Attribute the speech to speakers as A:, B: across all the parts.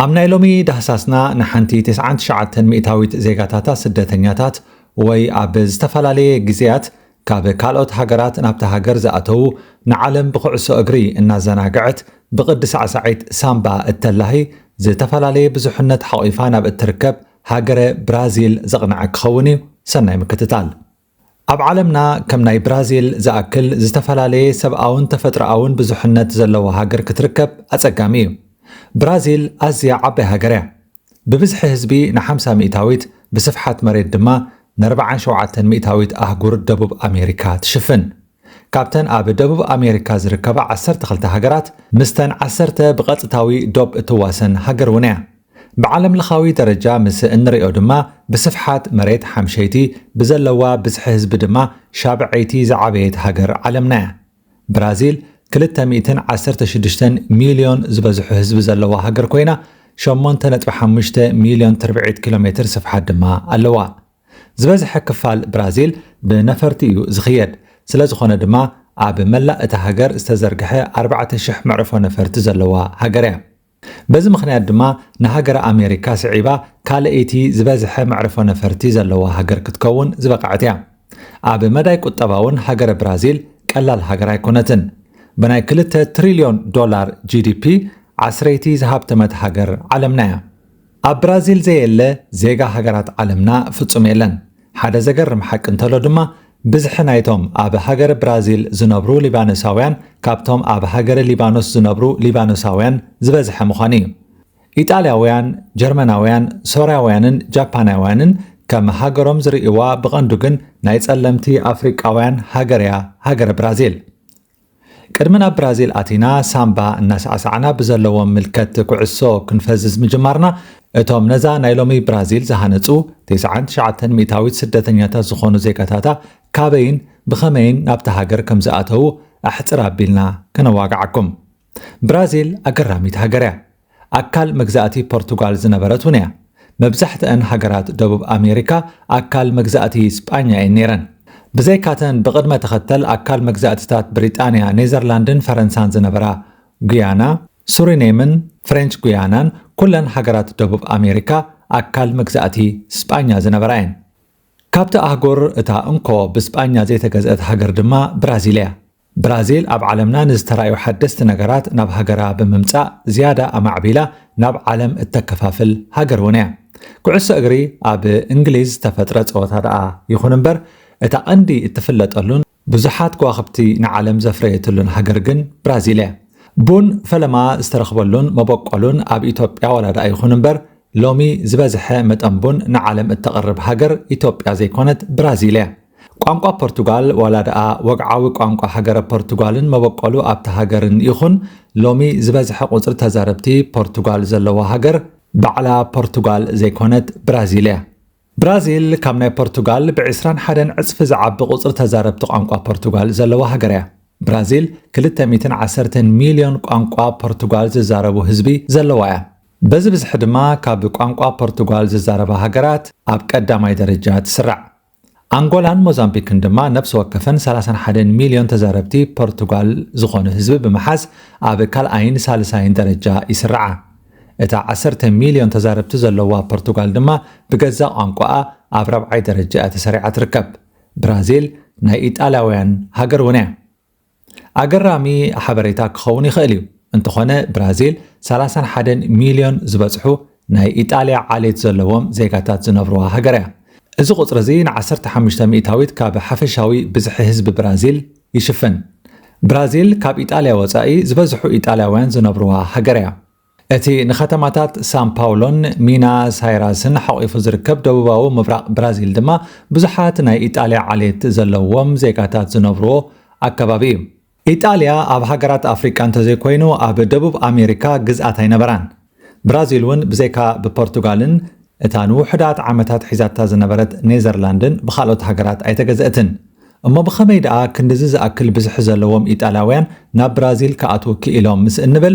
A: ኣብ ናይ ሎሚ ዳህሳስና ንሓንቲ ትስዓን ትሽዓተን ሚእታዊት ዜጋታታ ስደተኛታት ወይ ኣብ ዝተፈላለየ ግዜያት ካብ ካልኦት ሃገራት ናብታ ሃገር ዝኣተዉ ንዓለም ብኩዕሶ እግሪ እናዘናገዐት ብቅዲ ሳዕሳዒት ሳምባ እተላሂ ዝተፈላለየ ብዙሕነት ሓቂፋ ናብ እትርከብ ሃገረ ብራዚል ዘቅነዐ ክኸውን እዩ ሰናይ ምክትታል። ኣብ ዓለምና ከም ናይ ብራዚል ዝኣክል ዝተፈላለየ ሰብኣውን ተፈጥሮኣውን ብዙሕነት ዘለዋ ሃገር ክትርከብ ኣጸጋሚ እዩ። ብራዚል ኣዝያ ዓባይ ሃገር እያ። ብብዝሒ ህዝቢ ንሓምሳ ሚእታዊት፣ ብስፍሓት መሬት ድማ ነርብዓን ሸውዓተን ሚእታዊት ኣህጉር ደቡብ ኣሜሪካ ትሽፍን። ካብተን ኣብ ደቡብ ኣሜሪካ ዝርከባ ዓሰርተ ክልተ ሃገራት፣ ምስተን ዓሰርተ ብቐጥታዊ ዶብ እትዋሰን ሃገር እውን እያ። ብዓለምለኻዊ ደረጃ ምስ እንርእዮ ድማ ብስፍሓት መሬት ሓምሸይቲ፣ ብዘለዋ ብዝሒ ህዝቢ ድማ ሻብዐይቲ ዝዓበየት ሃገር ዓለምና'ያ። ብራዚል ክልተ ሚእትን ዓሰርተ ሽዱሽተን ሚልዮን ዝበዝሑ ህዝቢ ዘለዋ ሃገር ኮይና፣ ሸሞንተ ነጥቢ ሓሙሽተ ሚልዮን ትርብዒት ኪሎሜትር ስፍሓት ድማ ኣለዋ። ዝበዝሐ ክፋል ብራዚል ብነፈርቲ እዩ ዝኽየድ፣ ስለዝኾነ ድማ ኣብ መላእ እታ ሃገር ዝተዘርግሐ ኣርባዕተ ሽሕ መዕርፎ ነፈርቲ ዘለዋ ሃገር'ያ። በዚ ምኽንያት ድማ ንሃገረ ኣሜሪካ ስዒባ ካልኣይቲ ዝበዝሐ መዕርፎ ነፈርቲ ዘለዋ ሃገር ክትከውን ዝበቐዐት እያ። ኣብ መዳይ ቁጠባ'ውን ሃገረ ብራዚል ቀላል ሃገር ኣይኮነትን። ብናይ ክልተ ትሪልዮን ዶላር ጂዲፒ ዓስረይቲ ዝሃብተመት ሃገር ዓለምና እያ። ኣብ ብራዚል ዘየለ ዜጋ ሃገራት ዓለምና ፍጹም የለን። ሓደ ዘገርም ሓቂ እንተሎ ድማ ብዝሒ ናይቶም ኣብ ሃገረ ብራዚል ዝነብሩ ሊባኖሳውያን ካብቶም ኣብ ሃገረ ሊባኖስ ዝነብሩ ሊባኖሳውያን ዝበዝሐ ምዃኑ እዩ። ኢጣልያውያን፣ ጀርመናውያን፣ ሶርያውያንን ጃፓናውያንን ከም ሃገሮም ዝርእይዋ ብቐንዱ ግን ናይ ጸለምቲ ኣፍሪቃውያን ሃገር እያ ሃገረ ብራዚል። ቅድሚ ናብ ብራዚል ኣቲና ሳምባ እናሳዕሳዕና ብዘለዎም ምልከት ኩዕሶ ክንፈዝዝ ምጅማርና እቶም ነዛ ናይ ሎሚ ብራዚል ዝሃነጹ 99 ሚእታዊት ስደተኛታት ዝኾኑ ዜጋታታ ካበይን ብኸመይን ናብታ ሃገር ከም ዝኣተዉ ኣሕጽር ኣቢልና ከነዋግዓኩም ብራዚል ኣገራሚት ሃገር እያ። ኣካል መግዛእቲ ፖርቱጋል ዝነበረት እውን እያ። መብዛሕትኣን ሃገራት ደቡብ ኣሜሪካ ኣካል መግዛእቲ ስጳኛ እየን ነይረን። ብዘይካተን ብቕድመ ተኸተል ኣካል መግዛእቲታት ብሪጣንያ፣ ኔዘርላንድን ፈረንሳን ዝነበራ ጉያና፣ ሱሪኔምን ፍሬንች ጉያናን ኩለን ሃገራት ደቡብ ኣሜሪካ ኣካል መግዛእቲ ስጳኛ ዝነበራ እየን። ካብቲ ኣህጉር እታ እንኮ ብስጳኛ ዘይተገዝአት ሃገር ድማ ብራዚል እያ። ብራዚል ኣብ ዓለምና ንዝተራእዩ ሓደስቲ ነገራት ናብ ሃገራ ብምምጻእ ዝያዳ ኣማዕቢላ ናብ ዓለም እተከፋፍል ሃገር እውን እያ። ኩዕሶ እግሪ ኣብ እንግሊዝ ዝተፈጥረ ጸወታ ደኣ ይኹን እምበር እታ ቀንዲ እትፍለጠሉን ብዙሓት ከዋኽብቲ ንዓለም ዘፍረየትሉን ሃገር ግን ብራዚል እያ። ቡን ፈለማ ዝተረኽበሉን መበቆሉን ኣብ ኢትዮጵያ ዋላ ደኣ ይኹን እምበር ሎሚ ዝበዝሐ መጠን ቡን ንዓለም እተቕርብ ሃገር ኢትዮጵያ ዘይኮነት ብራዚል እያ። ቋንቋ ፖርቱጋል ዋላ ደኣ ወግዓዊ ቋንቋ ሃገረ ፖርቱጋልን መበቆሉ ኣብታ ሃገርን ይኹን፣ ሎሚ ዝበዝሐ ቁጽሪ ተዛረብቲ ፖርቱጋል ዘለዋ ሃገር ባዕላ ፖርቱጋል ዘይኮነት ብራዚል እያ። ብራዚል ካብ ናይ ፖርቱጋል ብዕስራን ሓደን ዕጽፊ ዝዓቢ ቁጽሪ ተዛረብቲ ቋንቋ ፖርቱጋል ዘለዋ ሃገር እያ። ብራዚል ክልተ ሚእትን ዓሰርተን ሚልዮን ቋንቋ ፖርቱጋል ዝዛረቡ ህዝቢ ዘለዋ እያ። በዚ ብዝሒ ድማ ካብ ቋንቋ ፖርቱጋል ዝዛረባ ሃገራት ኣብ ቀዳማይ ደረጃ ትስራዕ። ኣንጎላን ሞዛምቢክን ድማ ነብሲ ወከፈን ሰላሳን ሓደን ሚልዮን ተዛረብቲ ፖርቱጋል ዝኾኑ ህዝቢ ብምሓዝ ኣብ ካልኣይን ሳልሳይን ደረጃ ይስርዓ። እታ ዓሰርተ ሚልዮን ተዛረብቲ ዘለዋ ፖርቱጋል ድማ ብገዛእ ቋንቋኣ ኣብ ራብዓይ ደረጃ'ያ ተሰሪዓ ትርከብ። ብራዚል ናይ ኢጣልያውያን ሃገር እውን'ያ። ኣገራሚ ሓበሬታ ክኸውን ይኽእል እዩ፣ እንተኾነ ብራዚል ሰላሳን ሓደን ሚልዮን ዝበጽሑ ናይ ኢጣልያ ዓሌት ዘለዎም ዜጋታት ዝነብሩዋ ሃገር እያ። እዚ ቁጽሪ እዚ ንዓሰርተ ሓሙሽተ ሚእታዊት ካብ ሓፈሻዊ ብዝሒ ህዝቢ ብራዚል ይሽፍን። ብራዚል ካብ ኢጣልያ ወጻኢ ዝበዝሑ ኢጣልያውያን ዝነብሩዋ ሃገር እያ። እቲ ንኸተማታት ሳን ፓውሎን ሚና ሳይራስን ሓቚፉ ዝርከብ ደቡባዊ ምብራቕ ብራዚል ድማ ብዙሓት ናይ ኢጣልያ ዓሌት ዘለዎም ዜጋታት ዝነብሩዎ ኣከባቢ እዩ። ኢጣልያ ኣብ ሃገራት ኣፍሪቃ እንተዘይኮይኑ ኣብ ደቡብ ኣሜሪካ ግዝኣት ኣይነበራን። ብራዚል እውን ብዘይካ ብፖርቱጋልን እታ ንውሑዳት ዓመታት ሒዛታ ዝነበረት ኔዘርላንድን ብኻልኦት ሃገራት ኣይተገዘእትን። እሞ ብኸመይ ደኣ ክንድዚ ዝኣክል ብዝሒ ዘለዎም ኢጣልያውያን ናብ ብራዚል ክኣትዉ ክኢሎም ምስ እንብል፣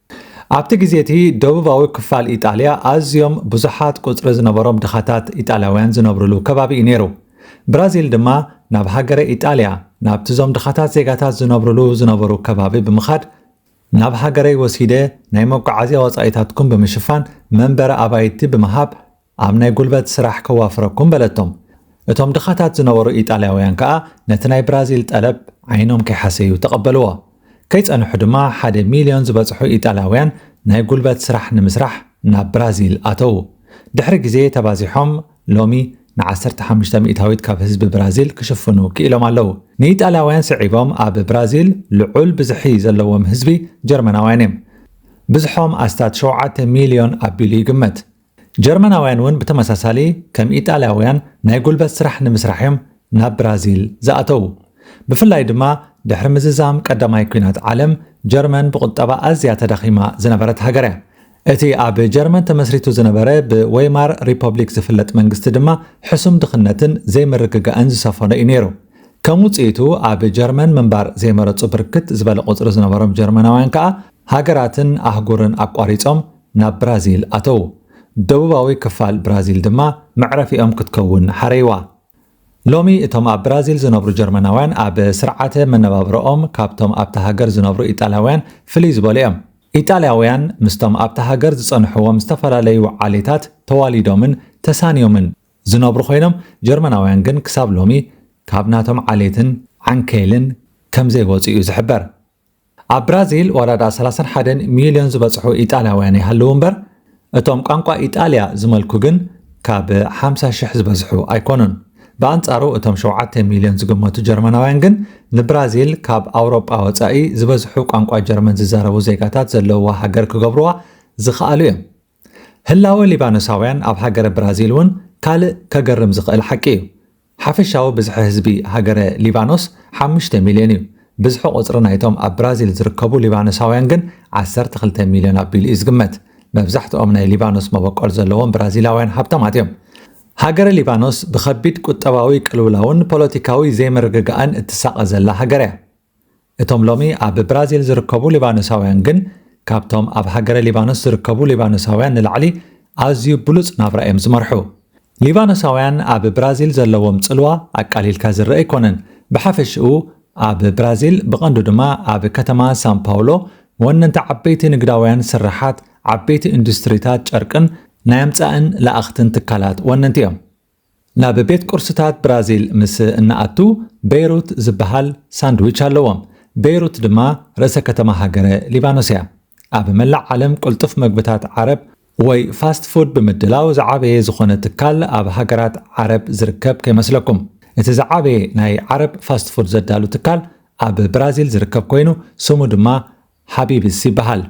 A: ኣብቲ ግዜ እቲ ደቡባዊ ክፋል ኢጣልያ ኣዝዮም ብዙሓት ቁጽሪ ዝነበሮም ድኻታት ኢጣልያውያን ዝነብርሉ ከባቢ እዩ ነይሩ። ብራዚል ድማ ናብ ሃገረ ኢጣልያ ናብቲ እዞም ድኻታት ዜጋታት ዝነብርሉ ዝነበሩ ከባቢ ብምኻድ ናብ ሃገረይ ወሲደ ናይ መጓዓዝያ ወጻኢታትኩም ብምሽፋን መንበሪ ኣባይቲ ብምሃብ ኣብ ናይ ጉልበት ስራሕ ከዋፍረኩም በለቶም። እቶም ድኻታት ዝነበሩ ኢጣልያውያን ከኣ ነቲ ናይ ብራዚል ጠለብ ዓይኖም ከይሓሰዩ ተቐበልዎ። ከይጸንሑ ድማ ሓደ ሚልዮን ዝበጽሑ ኢጣልያውያን ናይ ጉልበት ስራሕ ንምስራሕ ናብ ብራዚል ኣተዉ። ድሕሪ ግዜ ተባዚሖም ሎሚ ንዓሰርተ ሓሙሽተ ሚእታዊት ካብ ህዝቢ ብራዚል ክሽፍኑ ክኢሎም ኣለዉ። ንኢጣልያውያን ስዒቦም ኣብ ብራዚል ልዑል ብዝሒ ዘለዎም ህዝቢ ጀርመናውያን እዮም። ብዝሖም ኣስታት ሸውዓተ ሚልዮን ኣቢሉ ይግመት። ጀርመናውያን እውን ብተመሳሳሊ ከም ኢጣልያውያን ናይ ጉልበት ስራሕ ንምስራሕ እዮም ናብ ብራዚል ዝኣተዉ። ብፍላይ ድማ ድሕሪ ምዝዛም ቀዳማይ ኲናት ዓለም፣ ጀርመን ብቑጠባ ኣዝያ ተዳኺማ ዝነበረት ሃገር እያ። እቲ ኣብ ጀርመን ተመስሪቱ ዝነበረ ብወይማር ሪፐብሊክ ዝፍለጥ መንግስቲ ድማ ሕሱም ድኽነትን ዘይምርግጋእን ዝሰፈኖ እዩ ነይሩ። ከም ውጽኢቱ ኣብ ጀርመን ምንባር ዘይመረጹ ብርክት ዝበለ ቁጽሪ ዝነበሮም ጀርመናውያን ከኣ ሃገራትን ኣህጉርን ኣቋሪጾም ናብ ብራዚል ኣተዉ። ደቡባዊ ክፋል ብራዚል ድማ መዕረፊኦም ክትከውን ሓረይዋ። ሎሚ እቶም ኣብ ብራዚል ዝነብሩ ጀርመናውያን ኣብ ስርዓተ መነባብሮኦም ካብቶም ኣብታ ሃገር ዝነብሩ ኢጣልያውያን ፍልይ ዝበሉ እዮም። ኢጣልያውያን ምስቶም ኣብታ ሃገር ዝጸንሕዎም ዝተፈላለዩ ዓሌታት ተዋሊዶምን ተሳንዮምን ዝነብሩ ኮይኖም ጀርመናውያን ግን ክሳብ ሎሚ ካብ ናቶም ዓሌትን ዓንኬልን ከምዘይወጹ እዩ ዝሕበር። ኣብ ብራዚል ዋላ ድኣ ሰላሳን ሓደን ሚልዮን ዝበጽሑ ኢጣልያውያን ይሃልዉ እምበር፣ እቶም ቋንቋ ኢጣልያ ዝመልኩ ግን ካብ ሓምሳ ሽሕ ዝበዝሑ ኣይኮኑን። ብኣንጻሩ እቶም ሸውዓተ ሚልዮን ዝግመቱ ጀርመናውያን ግን ንብራዚል ካብ ኣውሮጳ ወጻኢ ዝበዝሑ ቋንቋ ጀርመን ዝዛረቡ ዜጋታት ዘለዉዋ ሃገር ክገብሩዋ ዝኸኣሉ እዮም። ህላወ ሊባኖሳውያን ኣብ ሃገረ ብራዚል እውን ካልእ ከገርም ዝኽእል ሓቂ እዩ። ሓፈሻዊ ብዝሒ ህዝቢ ሃገረ ሊባኖስ ሓሙሽተ ሚልዮን እዩ፣ ብዝሒ ቁጽሪ ናይቶም ኣብ ብራዚል ዝርከቡ ሊባኖሳውያን ግን ዓሰርተ ክልተ ሚልዮን ኣቢሉ እዩ ዝግመት። መብዛሕትኦም ናይ ሊባኖስ መበቆል ዘለዎም ብራዚላውያን ሃብታማት እዮም። ሃገረ ሊባኖስ ብኸቢድ ቁጠባዊ ቅልውላውን ፖለቲካዊ ዘይምርግጋእን እትሳቐ ዘላ ሃገር እያ። እቶም ሎሚ ኣብ ብራዚል ዝርከቡ ሊባኖሳውያን ግን ካብቶም ኣብ ሃገረ ሊባኖስ ዝርከቡ ሊባኖሳውያን ንላዕሊ ኣዝዩ ብሉጽ ናብራ እዮም ዝመርሑ። ሊባኖሳውያን ኣብ ብራዚል ዘለዎም ጽልዋ ኣቃሊልካ ዝርኣ ኣይኮነን። ብሓፈሽኡ ኣብ ብራዚል ብቐንዱ ድማ ኣብ ከተማ ሳንፓውሎ ወነንቲ ዓበይቲ ንግዳውያን ስርሓት፣ ዓበይቲ ኢንዱስትሪታት ጨርቅን ናይ ኣምጻእን ለኣኽትን ትካላት ወነንቲ እዮም። ናብ ቤት ቁርስታት ብራዚል ምስ እንኣቱ በይሩት ዝበሃል ሳንድዊች ኣለዎም። በይሩት ድማ ርእሰ ከተማ ሃገረ ሊባኖስ እያ። ኣብ መላእ ዓለም ቅልጡፍ መግብታት ዓረብ ወይ ፋስት ፉድ ብምድላው ዝዓበየ ዝኾነ ትካል ኣብ ሃገራት ዓረብ ዝርከብ ከይመስለኩም። እቲ ዝዓበየ ናይ ዓረብ ፋስት ፉድ ዘዳሉ ትካል ኣብ ብራዚል ዝርከብ ኮይኑ ስሙ ድማ ሓቢብስ ይበሃል።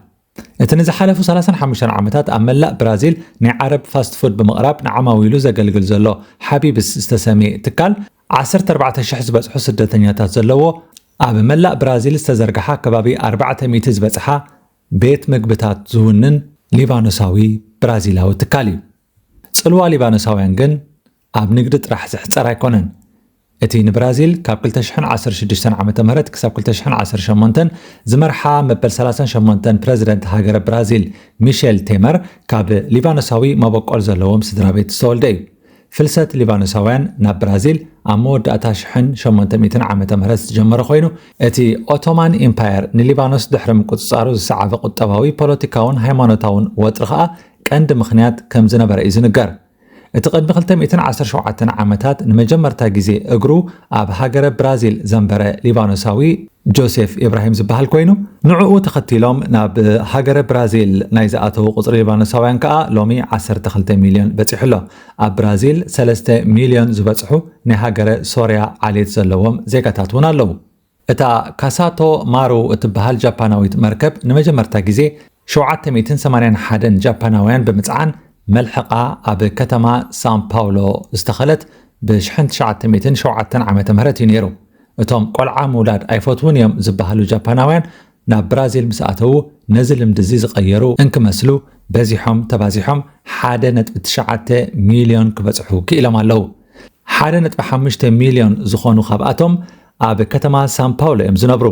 A: እቲ ንዝሓለፉ ሰላሳን ሓሙሽተን ዓመታት ኣብ መላእ ብራዚል ናይ ዓረብ ፋስት ፉድ ብምቕራብ ንዓማዊሉ ዘገልግል ዘሎ ሓቢብስ ዝተሰምየ ትካል፣ ዓሰርተ ኣርባዕተ ሽሕ ዝበጽሑ ስደተኛታት ዘለዎ ኣብ መላእ ብራዚል ዝተዘርግሓ ከባቢ ኣርባዕተ ሚእቲ ዝበጽሓ ቤት ምግብታት ዝውንን ሊባኖሳዊ ብራዚላዊ ትካል እዩ። ጽልዋ ሊባኖሳውያን ግን ኣብ ንግዲ ጥራሕ ዝሕጸር ኣይኮነን። እቲ ንብራዚል ካብ ክልተ ሽሕን ዓሰርተ ሽዱሽተን ዓመተ ምህረት ክሳብ ክልተ ሽሕን ዓሰርተ ሸሞንተን ዝመርሓ መበል ሰላሳን ሸሞንተን ፕረዚደንት ሃገረ ብራዚል ሚሸል ቴመር ካብ ሊባኖሳዊ መበቆል ዘለዎም ስድራቤት ዝተወልደ እዩ። ፍልሰት ሊባኖሳውያን ናብ ብራዚል ኣብ መወዳእታ ሽሕን ሸሞንተ ሚእትን ዓመተ ምህረት ዝጀመረ ኮይኑ እቲ ኦቶማን ኢምፓየር ንሊባኖስ ድሕሪ ምቁጽጻሩ ዝሰዓበ ቁጠባዊ፣ ፖለቲካውን ሃይማኖታውን ወጥሪ ከኣ ቀንዲ ምኽንያት ከምዝነበረ እዩ ዝንገር። እቲ ቅድሚ ክልተ ሚእትን ዓሰርተ ሸውዓተን ዓመታት ንመጀመርታ ግዜ እግሩ ኣብ ሃገረ ብራዚል ዘንበረ ሊባኖሳዊ ጆሴፍ ኢብራሂም ዝበሃል ኮይኑ፣ ንዕኡ ተኸቲሎም ናብ ሃገረ ብራዚል ናይ ዝኣተዉ ቁጽሪ ሊባኖሳውያን ከኣ ሎሚ ዓሰርተ ክልተ ሚልዮን በጺሑ ኣሎ። ኣብ ብራዚል ሰለስተ ሚልዮን ዝበጽሑ ናይ ሃገረ ሶርያ ዓሌት ዘለዎም ዜጋታት እውን ኣለዉ። እታ ካሳቶ ማሩ እትበሃል ጃፓናዊት መርከብ ንመጀመርታ ግዜ ሸውዓተ ሚእትን ሰማንያን ሓደን ጃፓናውያን ብምጽዓን መልሕቓ ኣብ ከተማ ሳን ፓውሎ ዝተኸለት ብሽሕን ትሽዓተ ሚእትን ሸውዓተን ዓመተ ምህረት እዩ ነይሩ። እቶም ቆልዓ ምውላድ ኣይፈትዉን እዮም ዝበሃሉ ጃፓናውያን ናብ ብራዚል ምስ ኣተዉ ነዚ ልምዲ እዚ ዝቐየሩ እንክመስሉ በዚሖም ተባዚሖም ሓደ ነጥቢ ትሽዓተ ሚልዮን ክበጽሑ ክኢሎም ኣለዉ። ሓደ ነጥቢ ሓሙሽተ ሚልዮን ዝኾኑ ካብኣቶም ኣብ ከተማ ሳንፓውሎ እዮም ዝነብሩ።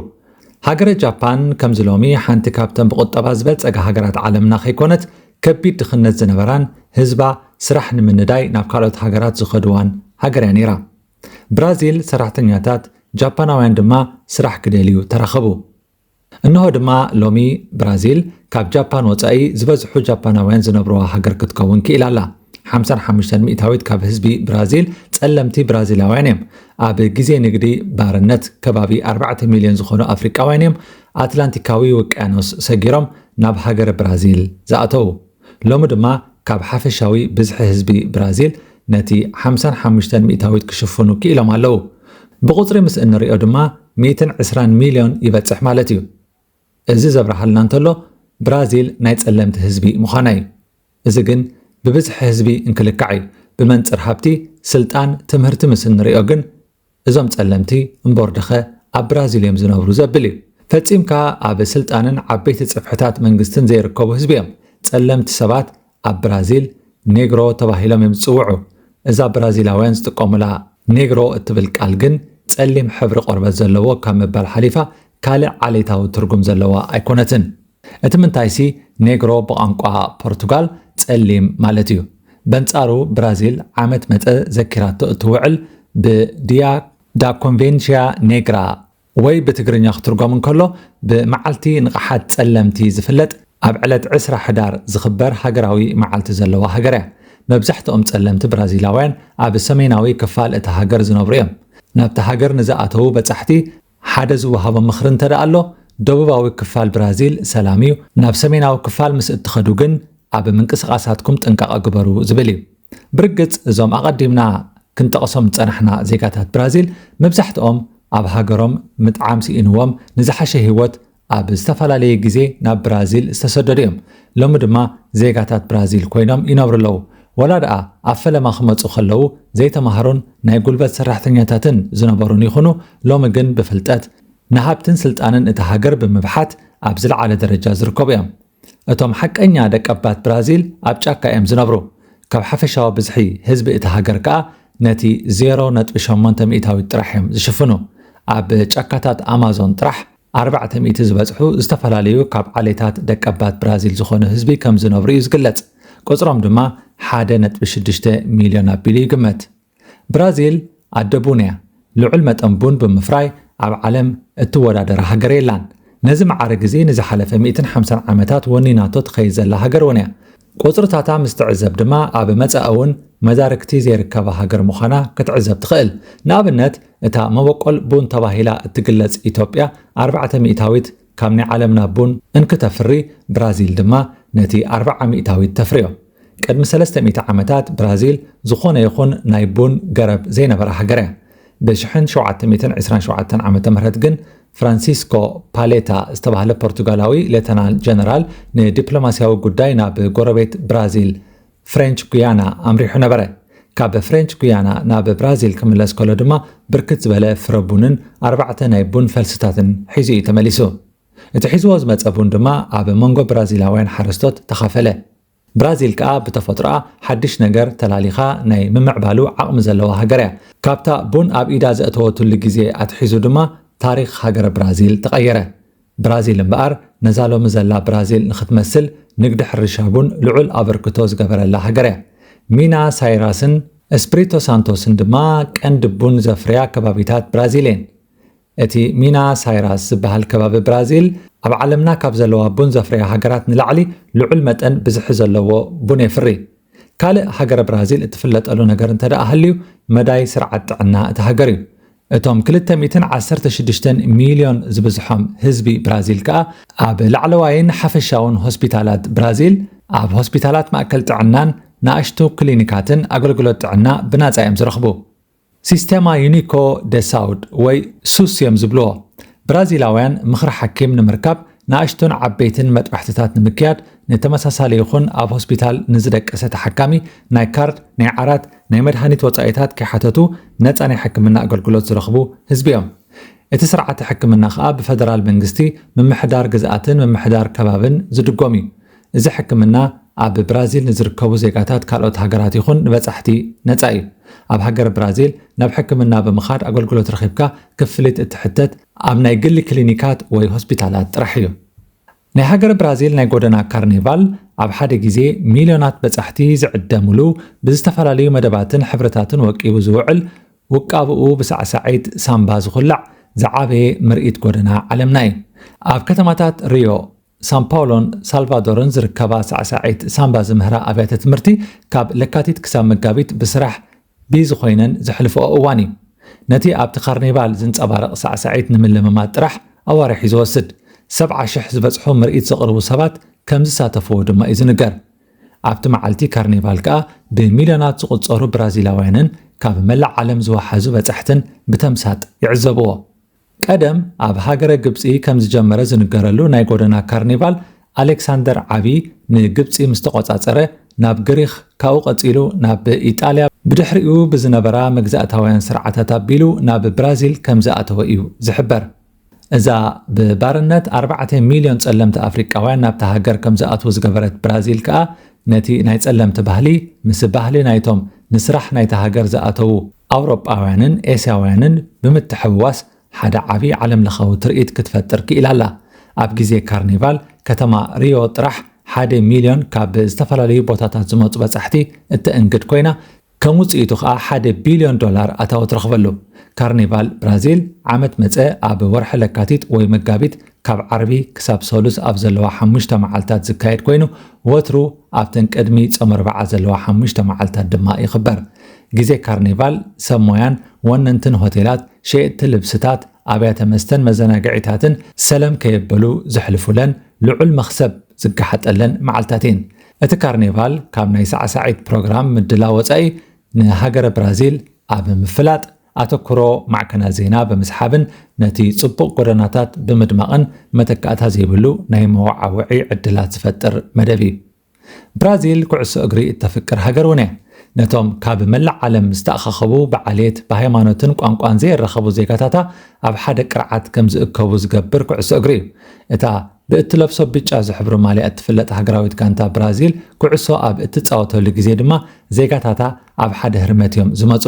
A: ሃገረ ጃፓን ከምዚ ሎሚ ሓንቲ ካብተን ብቑጠባ ዝበልጸጋ ሃገራት ዓለምና ከይኮነት ከቢድ ድኽነት ዝነበራን ህዝባ ስራሕ ንምንዳይ ናብ ካልኦት ሃገራት ዝኸድዋን ሃገር እያ ነይራ። ብራዚል ሰራሕተኛታት፣ ጃፓናውያን ድማ ስራሕ ክደልዩ ተራኸቡ። እንሆ ድማ ሎሚ ብራዚል ካብ ጃፓን ወጻኢ ዝበዝሑ ጃፓናውያን ዝነብሩዋ ሃገር ክትከውን ክኢላ ኣላ። ሓምሳን ሓሙሽተን ሚእታዊት ካብ ህዝቢ ብራዚል ጸለምቲ ብራዚላውያን እዮም። ኣብ ግዜ ንግዲ ባርነት ከባቢ ኣርባዕተ ሚልዮን ዝኾኑ ኣፍሪቃውያን እዮም ኣትላንቲካዊ ውቅያኖስ ሰጊሮም ናብ ሃገረ ብራዚል ዝኣተዉ። ሎሚ ድማ ካብ ሓፈሻዊ ብዝሒ ህዝቢ ብራዚል ነቲ ሓምሳን ሓሙሽተን ሚእታዊት ክሽፍኑ ክኢሎም ኣለዉ። ብቑጽሪ ምስ እንርእዮ ድማ ሚእትን ዕስራን ሚልዮን ይበጽሕ ማለት እዩ። እዚ ዘብርሃልና እንተሎ ብራዚል ናይ ጸለምቲ ህዝቢ ምዃና እዩ። እዚ ግን ብብዝሒ ህዝቢ እንክልካዕ እዩ። ብመንጽር ሃብቲ፣ ስልጣን፣ ትምህርቲ ምስ እንርእዮ ግን እዞም ጸለምቲ እምቦርድኸ ኣብ ብራዚል እዮም ዝነብሩ ዘብል እዩ። ፈጺምካ ኣብ ስልጣንን ዓበይቲ ጽፍሕታት መንግስትን ዘይርከቡ ህዝቢ እዮም። ጸለምቲ ሰባት ኣብ ብራዚል ኔግሮ ተባሂሎም እዮም ዝጽውዑ። እዛ ብራዚላውያን ዝጥቀሙላ ኔግሮ እትብል ቃል ግን ጸሊም ሕብሪ ቆርበት ዘለዎ ካብ ምባል ሓሊፋ ካልእ ዓሌታዊ ትርጉም ዘለዋ ኣይኮነትን። እቲ ምንታይሲ ኔግሮ ብቛንቋ ፖርቱጋል ጸሊም ማለት እዩ። በንጻሩ ብራዚል ዓመት መጸ ዘኪራቶ እትውዕል ብ Dia da Convência Negra ወይ ብትግርኛ ክትርጎም እንከሎ ብ መዓልቲ ንቕሓት ጸለምቲ ዝፍለጥ ኣብ ዕለት ዕስራ ሕዳር ዝኽበር ሃገራዊ መዓልቲ ዘለዋ ሃገር እያ። መብዛሕትኦም ጸለምቲ ብራዚላውያን ኣብ ሰሜናዊ ክፋል እታ ሃገር ዝነብሩ እዮም። ናብታ ሃገር ንዝኣተዉ በጻሕቲ ሓደ ዝወሃቦ ምኽሪ እንተደኣ ኣሎ፣ ደቡባዊ ክፋል ብራዚል ሰላም እዩ፣ ናብ ሰሜናዊ ክፋል ምስ እትኸዱ ግን ኣብ ምንቅስቓሳትኩም ጥንቃቐ ግበሩ ዝብል እዩ። ብርግጽ እዞም ኣቐዲምና ክንጠቕሶም ዝጸናሕና ዜጋታት ብራዚል መብዛሕትኦም ኣብ ሃገሮም ምጥዓም ስኢንዎም ንዝሓሸ ህይወት ኣብ ዝተፈላለየ ግዜ ናብ ብራዚል ዝተሰደዱ እዮም። ሎሚ ድማ ዜጋታት ብራዚል ኮይኖም ይነብሩ ኣለዉ። ወላ ደኣ ኣብ ፈለማ ክመጹ ከለዉ ዘይተማህሩን ናይ ጉልበት ሰራሕተኛታትን ዝነበሩን ይኹኑ፣ ሎሚ ግን ብፍልጠት፣ ንሃብትን ስልጣንን እታ ሃገር ብምብሓት ኣብ ዝለዓለ ደረጃ ዝርከቡ እዮም። እቶም ሓቀኛ ደቀባት ብራዚል ኣብ ጫካ እዮም ዝነብሩ፣ ካብ ሓፈሻዊ ብዝሒ ህዝቢ እታ ሃገር ከኣ ነቲ ዜሮ ነጥቢ ሸሞንተ ሚእታዊት ጥራሕ እዮም ዝሽፍኑ። ኣብ ጫካታት ኣማዞን ጥራሕ ኣርባዕተ ሚእቲ ዝበጽሑ ዝተፈላለዩ ካብ ዓሌታት ደቀባት ብራዚል ዝኾኑ ህዝቢ ከም ዝነብሩ እዩ ዝግለጽ፣ ቁጽሮም ድማ ሓደ ነጥቢ ሽዱሽተ ሚልዮን ኣቢሉ ይግመት። ብራዚል ኣደ ቡን እያ። ልዑል መጠን ቡን ብምፍራይ ኣብ ዓለም እትወዳደራ ሃገር የላን። ነዚ መዓርግ እዚ ንዝሓለፈ ሚእትን ሓምሳን ዓመታት ወኒናቶ ትኸይድ ዘላ ሃገር እውን እያ። ቁጽርታታ ምስ ትዕዘብ ድማ ኣብ መጻኢ እውን መዳርግቲ ዘይርከባ ሃገር ምዃና ክትዕዘብ ትኽእል። ንኣብነት እታ መበቆል ቡን ተባሂላ እትግለጽ ኢትዮጵያ ኣርባዕተ ሚእታዊት ካብ ናይ ዓለምና ቡን እንክተፍሪ ብራዚል ድማ ነቲ ኣርብዓ ሚእታዊት ተፍርዮ። ቅድሚ ሰለስተ ሚእቲ ዓመታት ብራዚል ዝኾነ ይኹን ናይ ቡን ገረብ ዘይነበራ ሃገርያ። ብ ሽሕን ሸውዓተ ሚእትን ዕስራን ሸውዓተን ዓመተ ምህረት ግን ፍራንሲስኮ ፓሌታ ዝተባህለ ፖርቱጋላዊ ሌተናል ጀነራል ንዲፕሎማሲያዊ ጉዳይ ናብ ጎረቤት ብራዚል ፍሬንች ጉያና ኣምሪሑ ነበረ። ካብ ፍሬንች ጉያና ናብ ብራዚል ክምለስ ከሎ ድማ ብርክት ዝበለ ፍረ ቡንን ኣርባዕተ ናይ ቡን ፈልስታትን ሒዙ እዩ ተመሊሱ። እቲ ሒዝዎ ዝመጸ ቡን ድማ ኣብ መንጎ ብራዚላውያን ሓረስቶት ተኻፈለ። ብራዚል ከኣ ብተፈጥሮኣ ሓድሽ ነገር ተላሊኻ ናይ ምምዕባሉ ዓቕሚ ዘለዋ ሃገር እያ። ካብታ ቡን ኣብ ኢዳ ዘእተወትሉ ግዜ ኣትሒዙ ድማ ታሪኽ ሃገረ ብራዚል ተቐየረ። ብራዚል እምበኣር ነዛ ሎሚ ዘላ ብራዚል ንኽትመስል ንግዲ ሕርሻ ቡን ልዑል ኣበርክቶ ዝገበረላ ሃገር እያ። ሚና ሳይራስን እስፕሪቶ ሳንቶስን ድማ ቀንዲ ቡን ዘፍርያ ከባቢታት ብራዚል እየን። እቲ ሚና ሳይራስ ዝበሃል ከባቢ ብራዚል ኣብ ዓለምና ካብ ዘለዋ ቡን ዘፍርያ ሃገራት ንላዕሊ ልዑል መጠን ብዝሒ ዘለዎ ቡን የፍሪ። ካልእ ሃገረ ብራዚል እትፍለጠሉ ነገር እንተደኣ ሃልዩ መዳይ ስርዓት ጥዕና እታ ሃገር እዩ። እቶም ክልተ ሚእትን ዓሰርተ ሽዱሽተን ሚልዮን ዝብዝሖም ህዝቢ ብራዚል ከኣ ኣብ ላዕለዋይን ሓፈሻውን ሆስፒታላት ብራዚል ኣብ ሆስፒታላት ማእከል ጥዕናን ንኣሽቱ ክሊኒካትን ኣገልግሎት ጥዕና ብናጻ እዮም ዝረኽቡ። ሲስተማ ዩኒኮ ደ ሳውድ ወይ ሱስ እዮም ዝብልዎ ብራዚላውያን ምኽሪ ሓኪም ንምርካብ ንኣሽቱን ዓበይትን መጥባሕትታት ንምክያድ ንተመሳሳሊ ይኹን ኣብ ሆስፒታል ንዝደቀሰ ተሓካሚ ናይ ካርድ ናይ ዓራት ናይ መድሃኒት ወጻኢታት ከይሓተቱ ነጻ ናይ ሕክምና ኣገልግሎት ዝረኽቡ ህዝቢ እዮም እቲ ስርዓተ ሕክምና ከኣ ብፈደራል መንግስቲ ምምሕዳር ግዝኣትን ምምሕዳር ከባብን ዝድጎም እዩ እዚ ሕክምና ኣብ ብራዚል ንዝርከቡ ዜጋታት ካልኦት ሃገራት ይኹን ንበጻሕቲ ነጻ እዩ። ኣብ ሃገር ብራዚል ናብ ሕክምና ብምኻድ ኣገልግሎት ረኺብካ ክፍሊት እትሕተት ኣብ ናይ ግሊ ክሊኒካት ወይ ሆስፒታላት ጥራሕ እዩ። ናይ ሃገር ብራዚል ናይ ጎደና ካርኒቫል ኣብ ሓደ ግዜ ሚልዮናት በጻሕቲ ዝዕደምሉ ብዝተፈላለዩ መደባትን ሕብርታትን ወቂቡ ዝውዕል ውቃብኡ ብሳዕሳዒት ሳምባ ዝኹላዕ ዝዓበየ ምርኢት ጎደና ዓለምና እዩ። ኣብ ከተማታት ሪዮ፣ ሳንፓውሎን ሳልቫዶርን ዝርከባ ሳዕሳዒት ሳምባ ዝምህራ ኣብያተ ትምህርቲ ካብ ለካቲት ክሳብ መጋቢት ብስራሕ ቢዝ ኾይነን ዘሕልፍኦ እዋን እዩ። ነቲ ኣብቲ ካርኒቫል ዝንጸባረቕ ሳዕሳዒት ንምልምማድ ጥራሕ ኣዋርሕ እዩ ዝወስድ። ሰብዓ ሽሕ ዝበጽሑ ምርኢት ዘቕርቡ ሰባት ከም ዝሳተፍዎ ድማ እዩ ዝንገር። ኣብቲ መዓልቲ ካርኒቫል ከኣ ብሚልዮናት ዝቑጸሩ ብራዚላውያንን ካብ መላእ ዓለም ዝወሓዙ በጻሕትን ብተምሳጥ ይዕዘብዎ። ቀደም ኣብ ሃገረ ግብጺ ከም ዝጀመረ ዝንገረሉ ናይ ጎደና ካርኒቫል፣ ኣሌክሳንደር ዓቢ ንግብጺ ምስ ተቖጻጸረ ናብ ግሪኽ፣ ካብኡ ቀጺሉ ናብ ኢጣልያ፣ ብድሕሪኡ ብዝነበራ መግዛእታውያን ስርዓታት ኣቢሉ ናብ ብራዚል ከም ዝኣተወ እዩ ዝሕበር። እዛ ብባርነት ኣርባዕተ ሚልዮን ጸለምቲ ኣፍሪቃውያን ናብታ ሃገር ከም ዝኣትዉ ዝገበረት ብራዚል ከኣ ነቲ ናይ ጸለምቲ ባህሊ ምስ ባህሊ ናይቶም ንስራሕ ናይታ ሃገር ዝኣተዉ ኣውሮጳውያንን ኤስያውያንን ብምትሕውዋስ ሓደ ዓቢ ዓለምለኻዊ ትርኢት ክትፈጥር ክኢላ ኣላ። ኣብ ግዜ ካርኒቫል ከተማ ሪዮ ጥራሕ ሓደ ሚልዮን ካብ ዝተፈላለዩ ቦታታት ዝመጹ በጻሕቲ እተእንግድ ኮይና፣ ከም ውጽኢቱ ከኣ ሓደ ቢልዮን ዶላር ኣታዊ ትረኽበሉ። ካርኒቫል ብራዚል ዓመት መጸ ኣብ ወርሒ ለካቲት ወይ መጋቢት ካብ ዓርቢ ክሳብ ሰሉስ ኣብ ዘለዋ ሓሙሽተ መዓልታት ዝካየድ ኮይኑ ወትሩ ኣብተን ቅድሚ ጾም ኣርብዓ ዘለዋ ሓሙሽተ መዓልታት ድማ ይኽበር። ግዜ ካርኒቫል ሰብ ሞያን ወነንትን ሆቴላት፣ ሸየጥቲ ልብስታት፣ ኣብያተ መስተን መዘናግዒታትን ሰለም ከየበሉ ዘሕልፉለን ልዑል መኽሰብ ዝጋሓጠለን መዓልታት እየን። እቲ ካርኒቫል ካብ ናይ ሳዕሳዒት ፕሮግራም ምድላው ወጻኢ ንሃገረ ብራዚል ኣብ ምፍላጥ፣ ኣተኩሮ ማዕከናት ዜና ብምስሓብን ነቲ ጽቡቕ ጎደናታት ብምድማቕን መተካእታ ዘይብሉ ናይ መወዓውዒ ዕድላት ዝፈጥር መደብ እዩ። ብራዚል ኩዕሶ እግሪ እተፍቅር ሃገር እውን እያ። ነቶም ካብ መላእ ዓለም ዝተኣኻኸቡ ብዓሌት፣ ብሃይማኖትን ቋንቋን ዘይራኸቡ ዜጋታታ ኣብ ሓደ ቅርዓት ከም ዝእከቡ ዝገብር ኩዕሶ እግሪ እዩ። እታ ብእትለብሶ ብጫ ዝሕብሩ ማልያ እትፍለጥ ሃገራዊት ጋንታ ብራዚል ኩዕሶ ኣብ እትጻወተሉ ግዜ ድማ ዜጋታታ ኣብ ሓደ ህርመት እዮም ዝመፁ።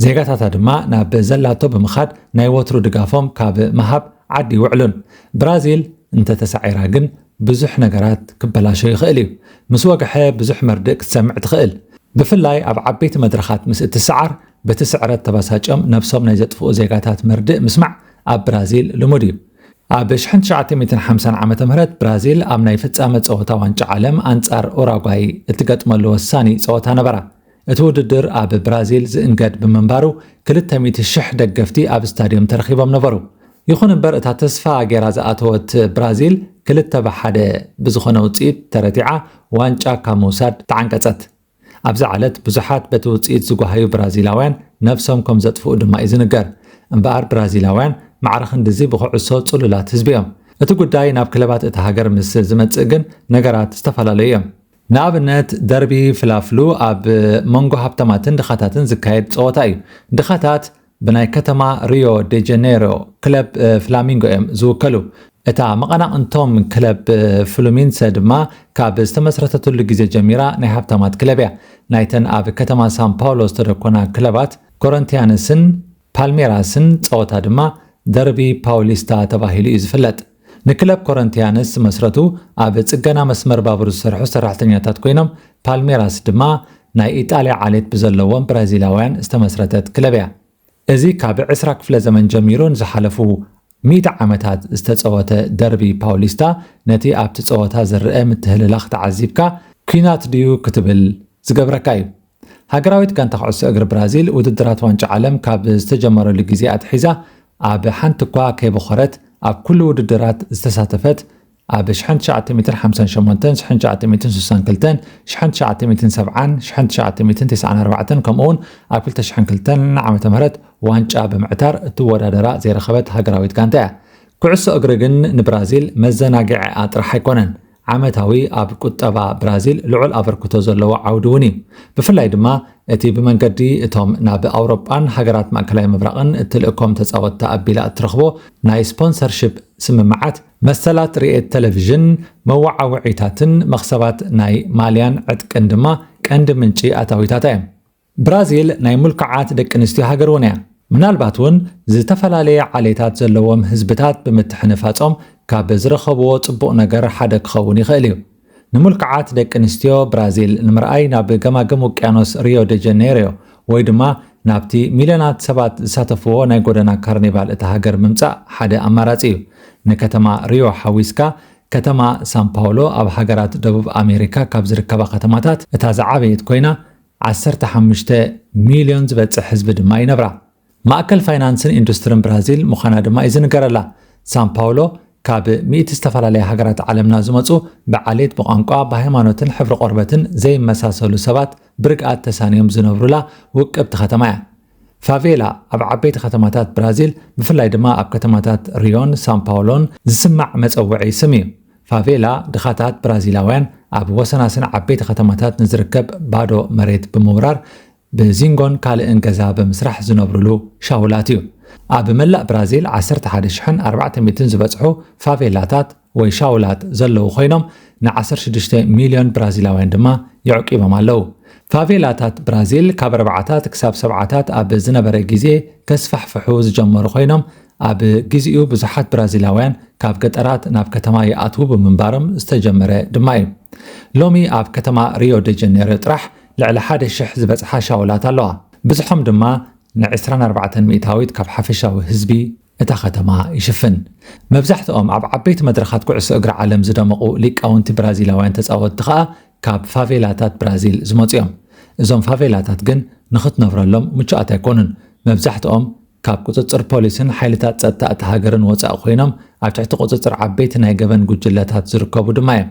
A: ዜጋታታ ድማ ናብ ዘላቶ ብምኻድ ናይ ወትሩ ድጋፎም ካብ ምሃብ ዓዲ ይውዕሉን። ብራዚል እንተተሳዒራ ግን ብዙሕ ነገራት ክበላሾ ይኽእል እዩ። ምስ ወግሐ ብዙሕ መርድእ ክትሰምዕ ትኽእል። ብፍላይ ኣብ ዓበይቲ መድረኻት ምስ እትሰዓር በቲ ስዕረት ተበሳጭዮም ነብሶም ናይ ዘጥፍኡ ዜጋታት መርድእ ምስማዕ ኣብ ብራዚል ልሙድ እዩ። ኣብ ኣሽሕን ትሽዓተ ሚእትን ሓምሳን ዓመተ ምህረት ብራዚል ኣብ ናይ ፍጻመ ጸወታ ዋንጫ ዓለም ኣንጻር ኡራጓይ እትገጥመሉ ወሳኒ ጸወታ ነበራ። እቲ ውድድር ኣብ ብራዚል ዝእንገድ ብምንባሩ ክልተ ሚእቲ ሽሕ ደገፍቲ ኣብ ስታድዮም ተረኺቦም ነበሩ። ይኹን እምበር እታ ተስፋ ጌራ ዝኣተወት ብራዚል ክልተ ብሓደ ብዝኾነ ውጽኢት ተረቲዓ ዋንጫ ካብ ምውሳድ ተዓንቀጸት። ኣብዛ ዕለት ብዙሓት በቲ ውጽኢት ዝጓሃዩ ብራዚላውያን ነብሶም ከም ዘጥፍኡ ድማ እዩ ዝንገር። እምበኣር ብራዚላውያን ማዕረ ክንድዚ ብኩዕሶ ጽሉላት ህዝቢ እዮም። እቲ ጉዳይ ናብ ክለባት እታ ሃገር ምስ ዝመጽእ ግን ነገራት ዝተፈላለዩ እዮም። ንኣብነት ደርቢ ፍላፍሉ ኣብ መንጎ ሃብታማትን ድኻታትን ዝካየድ ጸወታ እዩ። ድኻታት ብናይ ከተማ ሪዮ ደ ጀኔሮ ክለብ ፍላሚንጎ እዮም ዝውከሉ። እታ መቐናቕንቶም ክለብ ፍሉሚንሰ ድማ ካብ ዝተመስረተትሉ ግዜ ጀሚራ ናይ ሃብታማት ክለብ እያ። ናይተን ኣብ ከተማ ሳን ፓውሎ ዝተደኮና ክለባት ኮረንቲያነስን ፓልሜራስን ጸወታ ድማ ደርቢ ፓውሊስታ ተባሂሉ እዩ ዝፍለጥ። ንክለብ ኮረንቲያንስ ዝመስረቱ ኣብ ጽገና መስመር ባቡር ዝሰርሑ ሰራሕተኛታት ኮይኖም፣ ፓልሜራስ ድማ ናይ ኢጣልያ ዓሌት ብዘለዎም ብራዚላውያን ዝተመስረተት ክለብ እያ። እዚ ካብ ዕስራ ክፍለ ዘመን ጀሚሩ ንዝሓለፉ ሚእቲ ዓመታት ዝተጸወተ ደርቢ ፓውሊስታ ነቲ ኣብቲ ጸወታ ዝርኣ ምትህልላኽ ተዓዚብካ ኲናት ድዩ ክትብል ዝገብረካ እዩ። ሃገራዊት ጋንታ ኩዕሶ እግሪ ብራዚል ውድድራት ዋንጫ ዓለም ካብ ዝተጀመረሉ ግዜ ኣትሒዛ ኣብ ሓንቲ እኳ ከይበኾረት ኣብ ኩሉ ውድድራት ዝተሳተፈት ኣብ 1958፣ 1962፣ 1970ን 1994ን ከምኡ'ውን ኣብ 2002 ዓ.ም ዋንጫ ብምዕታር እትወዳደራ ዘይረኸበት ሃገራዊት ጋንታ እያ። ኩዕሶ እግሪ ግን ንብራዚል መዘናግዒኣ ጥራሕ ኣይኮነን። ዓመታዊ ኣብ ቁጠባ ብራዚል ልዑል ኣበርክቶ ዘለዎ ዓውዲ እውን እዩ። ብፍላይ ድማ እቲ ብመንገዲ እቶም ናብ ኣውሮጳን ሃገራት ማእከላይ ምብራቕን እትልእኮም ተጻወትቲ ኣቢላ እትረኽቦ ናይ ስፖንሰርሺፕ ስምምዓት፣ መሰላት ርየት ተለቪዥን፣ መወዓውዒታትን መኽሰባት ናይ ማልያን ዕጥቅን ድማ ቀንዲ ምንጪ ኣታዊታታ እዮም። ብራዚል ናይ ምልኩዓት ደቂ ኣንስትዮ ሃገር እውን እያ። ምናልባት እውን ዝተፈላለየ ዓሌታት ዘለዎም ህዝብታት ብምትሕንፋጾም ካብ ዝረኸብዎ ጽቡቕ ነገር ሓደ ክኸውን ይኽእል እዩ። ንምልኩዓት ደቂ ኣንስትዮ ብራዚል ንምርኣይ ናብ ገማግም ውቅያኖስ ሪዮ ደ ጀነይሮ ወይ ድማ ናብቲ ሚልዮናት ሰባት ዝሳተፍዎ ናይ ጎደና ካርኒቫል እታ ሃገር ምምጻእ ሓደ ኣማራጺ እዩ። ንከተማ ሪዮ ሓዊስካ ከተማ ሳን ፓውሎ ኣብ ሃገራት ደቡብ ኣሜሪካ ካብ ዝርከባ ከተማታት እታ ዝዓበየት ኮይና ዓሰርተ ሓሙሽተ ሚልዮን ዝበጽሕ ህዝቢ ድማ ይነብራ። ማእከል ፋይናንስን ኢንዱስትርን ብራዚል ምዃና ድማ እዩ ዝንገረላ። ሳን ፓውሎ ካብ ሚእቲ ዝተፈላለያ ሃገራት ዓለምና ዝመጹ ብዓሌት፣ ብቋንቋ፣ ብሃይማኖትን ሕብሪ ቆርበትን ዘይመሳሰሉ ሰባት ብርግኣት ተሳንዮም ዝነብሩላ ውቅብቲ ከተማ እያ። ፋቬላ ኣብ ዓበይቲ ከተማታት ብራዚል ብፍላይ ድማ ኣብ ከተማታት ሪዮን ሳንፓውሎን ዝስማዕ መጸውዒ ስም እዩ። ፋቬላ ድኻታት ብራዚላውያን ኣብ ወሰናስን ዓበይቲ ከተማታት ንዝርከብ ባዶ መሬት ብምውራር ብዚንጎን ካልእን ገዛ ብምስራሕ ዝነብሩሉ ሻውላት እዩ። ኣብ መላእ ብራዚል ዓሰርተ ሓደ ሽሕን ኣርባዕተ ሚእትን ዝበጽሑ ፋቬላታት ወይ ሻውላት ዘለዉ ኮይኖም ንዓሰርተ ሽዱሽተ ሚልዮን ብራዚላውያን ድማ የዕቂቦም ኣለዉ። ፋቬላታት ብራዚል ካብ ኣርባዓታት ክሳብ ሰብዓታት ኣብ ዝነበረ ግዜ ከስፋሕፍሑ ዝጀመሩ ኮይኖም ኣብ ግዜኡ ብዙሓት ብራዚላውያን ካብ ገጠራት ናብ ከተማ ይኣትዉ ብምንባሮም ዝተጀመረ ድማ እዩ። ሎሚ ኣብ ከተማ ሪዮ ደ ጀኔሮ ጥራሕ ልዕሊ ሓደ ሽሕ ዝበጽሓ ሻውላት ኣለዋ። ብዝሖም ድማ ንዕስራን ኣርባዕተን ሚእታዊት ካብ ሓፈሻዊ ህዝቢ እታ ከተማ ይሽፍን። መብዛሕትኦም ኣብ ዓበይቲ መድረኻት ኩዕሶ እግሪ ዓለም ዝደመቑ ሊቃውንቲ ብራዚላውያን ተጻወትቲ ከኣ ካብ ፋቬላታት ብራዚል ዝመጹ'ዮም። እዞም ፋቬላታት ግን ንኽትነብረሎም ምቹኣት ኣይኮኑን። መብዛሕትኦም ካብ ቁጽጽር ፖሊስን ሓይልታት ጸጥታ እታ ሃገርን ወጻኢ ኮይኖም ኣብ ትሕቲ ቁጽጽር ዓበይቲ ናይ ገበን ጉጅለታት ዝርከቡ ድማ'ዮም።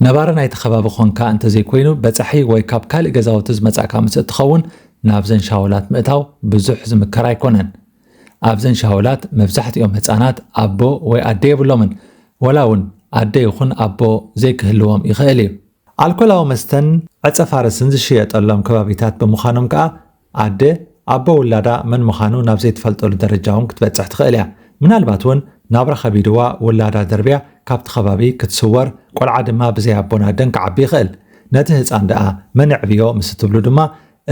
A: ነባሪ ናይቲ ከባቢ ኰንካ እንተዘይኮይኑ በጻሒ ወይ ካብ ካልእ ገዛውቲ ዝመጻእካ ምስ እትኸውን ናብዘን ሻውላት ምእታው ብዙሕ ዝምከር ኣይኮነን። ኣብዘን ሻውላት መብዛሕትኦም ህፃናት ኣቦ ወይ ኣደ የብሎምን፣ ወላ እውን ኣደ ይኹን ኣቦ ዘይክህልዎም ይኽእል እዩ። ኣልኮላዊ መስተን ዕፀ ፋርስን ዝሽየጠሎም ከባቢታት ብምዃኖም ከኣ ኣደ ኣቦ ውላዳ መን ምዃኑ ናብ ዘይትፈልጠሉ ደረጃ እውን ክትበፅሕ ትኽእል እያ። ምናልባት እውን ናብራ ከቢድዋ ውላዳ ደርብያ ካብቲ ከባቢ ክትስወር ቆልዓ ድማ ብዘይ ኣቦን ኣደን ክዓቢ ይኽእል። ነቲ ህፃን ደኣ መን የዕብዮ ምስ እትብሉ ድማ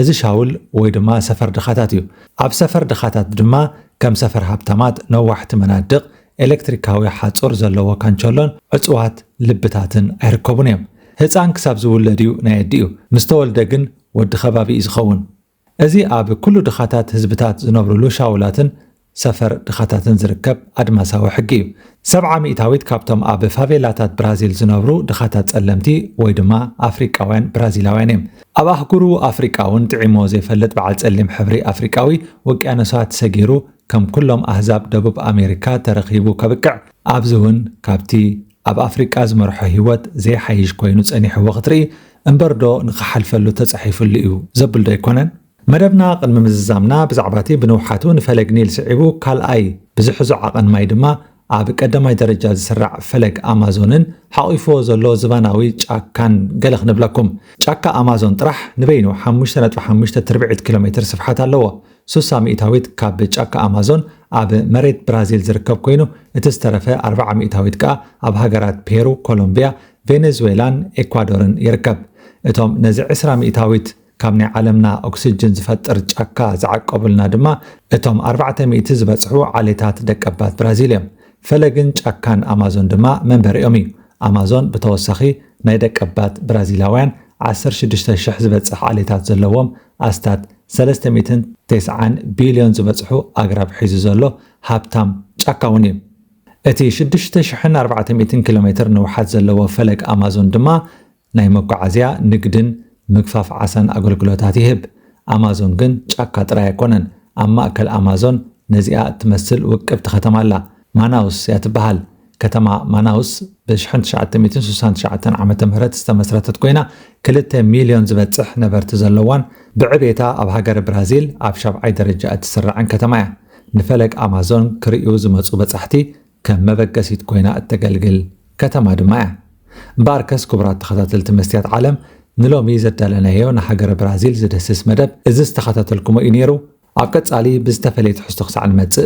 A: እዚ ሻውል ወይ ድማ ሰፈር ድኻታት እዩ። ኣብ ሰፈር ድኻታት ድማ ከም ሰፈር ሃብታማት ነዋሕቲ መናድቕ፣ ኤለክትሪካዊ ሓጹር ዘለዎ ካንቸሎን ዕጹዋት ልብታትን ኣይርከቡን እዮም። ህጻን ክሳብ ዝውለድ እዩ ናይ ኣዲኡ፣ ምስ ተወልደ ግን ወዲ ከባቢ እዩ ዝኸውን። እዚ ኣብ ኩሉ ድኻታት ህዝብታት ዝነብሩሉ ሻውላትን ሰፈር ድኻታትን ዝርከብ ኣድማሳዊ ሕጊ እዩ። ሰብዓ ሚእታዊት ካብቶም ኣብ ፋቬላታት ብራዚል ዝነብሩ ድኻታት ጸለምቲ ወይ ድማ ኣፍሪቃውያን ብራዚላውያን እዮም። ኣብ ኣህጉሩ ኣፍሪቃ እውን ጥዒምዎ ዘይፈልጥ በዓል ጸሊም ሕብሪ ኣፍሪቃዊ፣ ውቅያኖሳት ሰጊሩ ከም ኩሎም ኣህዛብ ደቡብ ኣሜሪካ ተረኺቡ ከብቅዕ፣ ኣብዚ እውን ካብቲ ኣብ ኣፍሪቃ ዝመርሖ ህይወት ዘይሓይሽ ኮይኑ ጸኒሕዎ ክትርኢ፣ እምበርዶ ንኽሓልፈሉ ተጻሒፍሉ እዩ ዘብልዶ ኣይኮነን? መደብና ቅድሚ ምዝዛምና ብዛዕባቲ ብንውሓቱ ንፈለግ ኒል ስዒቡ ካልኣይ ብዝሕዞ ዓቐን ማይ ድማ ኣብ ቀዳማይ ደረጃ ዝስራዕ ፈለግ ኣማዞንን ሓቚፉዎ ዘሎ ዝባናዊ ጫካን ገለ ክንብለኩም። ጫካ ኣማዞን ጥራሕ ንበይኑ ሓሙሽተ ነጥቢ ሓሙሽተ ትርብዒት ኪሎሜትር ስፍሓት ኣለዎ። ሱሳ ሚእታዊት ካብ ጫካ ኣማዞን ኣብ መሬት ብራዚል ዝርከብ ኮይኑ እቲ ዝተረፈ ኣርብዓ ሚእታዊት ከኣ ኣብ ሃገራት ፔሩ፣ ኮሎምብያ፣ ቬነዝዌላን ኤኳዶርን ይርከብ። እቶም ነዚ ዕስራ ሚእታዊት ካብ ናይ ዓለምና ኦክስጅን ዝፈጥር ጫካ ዝዓቀቡልና ድማ እቶም ኣርባዕተ ሚእቲ ዝበጽሑ ዓሌታት ደቀባት ብራዚል እዮም። ፈለግን ጫካን ኣማዞን ድማ መንበሪኦም እዩ። ኣማዞን ብተወሳኺ ናይ ደቀባት ብራዚላውያን ዓሰርተ ሽዱሽተ ሽሕ ዝበጽሕ ዓሌታት ዘለዎም ኣስታት ሰለስተ ሚእትን ተስዓን ቢልዮን ዝበጽሑ ኣግራብ ሒዙ ዘሎ ሃብታም ጫካ'ውን እዩ። እቲ ሽዱሽተ ሽሕን ኣርባዕተ ሚእትን ኪሎሜትር ንውሓት ዘለዎ ፈለግ ኣማዞን ድማ ናይ መጓዓዝያ፣ ንግድን ምግፋፍ ዓሳን ኣገልግሎታት ይህብ። ኣማዞን ግን ጫካ ጥራይ ኣይኮነን። ኣብ ማእከል ኣማዞን ነዚኣ እትመስል ውቅብቲ ከተማ ኣላ። ማናውስ እያ ትበሃል። ከተማ ማናውስ ብ ሽሕን ትሽዓተ ሚእትን ስሳን ትሽዓተን ዓመተ ምህረት ዝተመስረተት ኮይና ክልተ ሚልዮን ዝበጽሕ ነበርቲ ዘለዋን ብዕቤታ ኣብ ሃገረ ብራዚል ኣብ ሻብዓይ ደረጃ እትስራዕን ከተማ እያ። ንፈለግ ኣማዞን ክርእዩ ዝመጹ በጻሕቲ ከም መበገሲት ኮይና እተገልግል ከተማ ድማ እያ። እምበኣርከስ ክቡራት ተኸታተልቲ መስትያት ዓለም ንሎሚ ዘዳለናዮ ንሃገረ ብራዚል ዝደስስ መደብ እዚ ዝተኸታተልኩሞ እዩ ነይሩ። ኣብ ቀጻሊ ብዝተፈለየ ትሕዝቶ ክሳዕ ንመጽእ፣